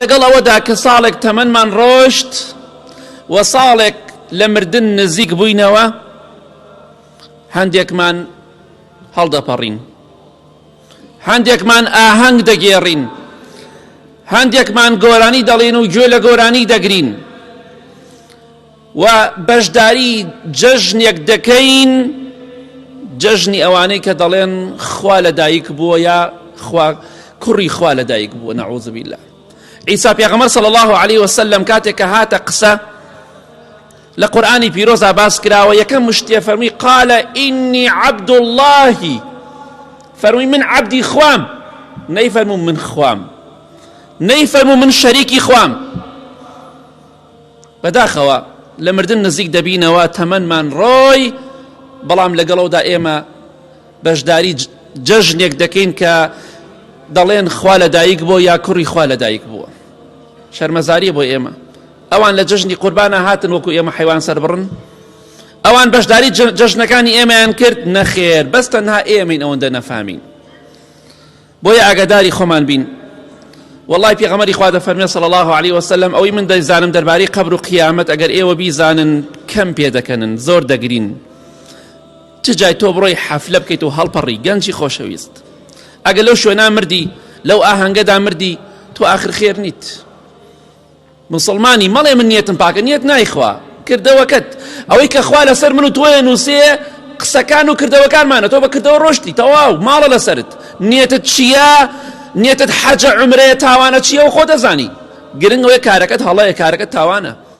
لەگەڵ ئەوەدا کە ساڵێک تەمەنمان ڕۆشت و ساڵێک لە مردن نزیک بووینەوە هەندێکمان هەڵدەپەڕین هەندێکمان ئاهەنگ دەگێڕین هەندێکمان گۆرانی دەڵێن و گوێ لە گۆرانی دەگرین و بەشداری جەژنێک دەکەین جەژنی ئەوانەی کە دەڵێن خوا لە دایک بووە یا خوا کوڕی خوا لە دایک بووە نەعوذ بالله عیسی پێغەمبەر صلی الله علیه وسلم کاتێک کە هاتە قسە لە قورآانی پیرۆزا باس کراوە یەکەم مشتێ فەرمی قالە ئینی عبد اللهی فەرمی من عبدی خوام نەیفەرمو من خوام نەیفەرمو من شەریکی خوام بەداخەوە لە مردن نزیک دەبینەوە تەمەنمان ڕۆی بەڵام لەگەڵەوەدا ئێمە بەشداری جەژنێک دەکەین کە دەڵێن خوا لە دایک بۆ یا کوڕی خوا لە دایک بووە شەرمەزاری بۆ ئێمە ئەوان لە جەژنی قوربانە هاتن وەکو ئێمە حیوان سەر بڕن ئەوان بەشداری جەژنەکانی ئێمەیان کرد نەخێر بەس تەنها ئێمەین ئەوەندە نەفامین بۆیە ئاگاداری خۆمان بین واللەی پێغەمەری خوا دەفەرمێ صلی الله علیه وسلم ئەوەی من دەیزانم دەربارەی قبر و قیامەت ئەگەر ئێوە بیزانن کەم پێ دەکەنن زۆر دەگرین چ جای تۆ بڕۆی حەفلە بکەیت و هەڵپەڕی گەنجی خۆشەویست ئەگەر لەو شوێنا مردی لەو ئاهەنگەدا مردی تۆ ئاخر خێر نیت موسڵمانی مەڵێ من نیەتم پاکە نیەت نایخوا کردەوەکەت ئەوەی کە خوا لەسەر من و تۆیە نووسێ قسەکان و کردەوەکانمانە تۆ بە کردەوە ڕۆشتی تەواو ماڵە لەسرت نیەتت چییە نیەتت حەجە عمرەیە تاوانە چییە و خۆ دەزانی گرنگەوەی کارەکەت هەڵەیە کارەکە تاوانە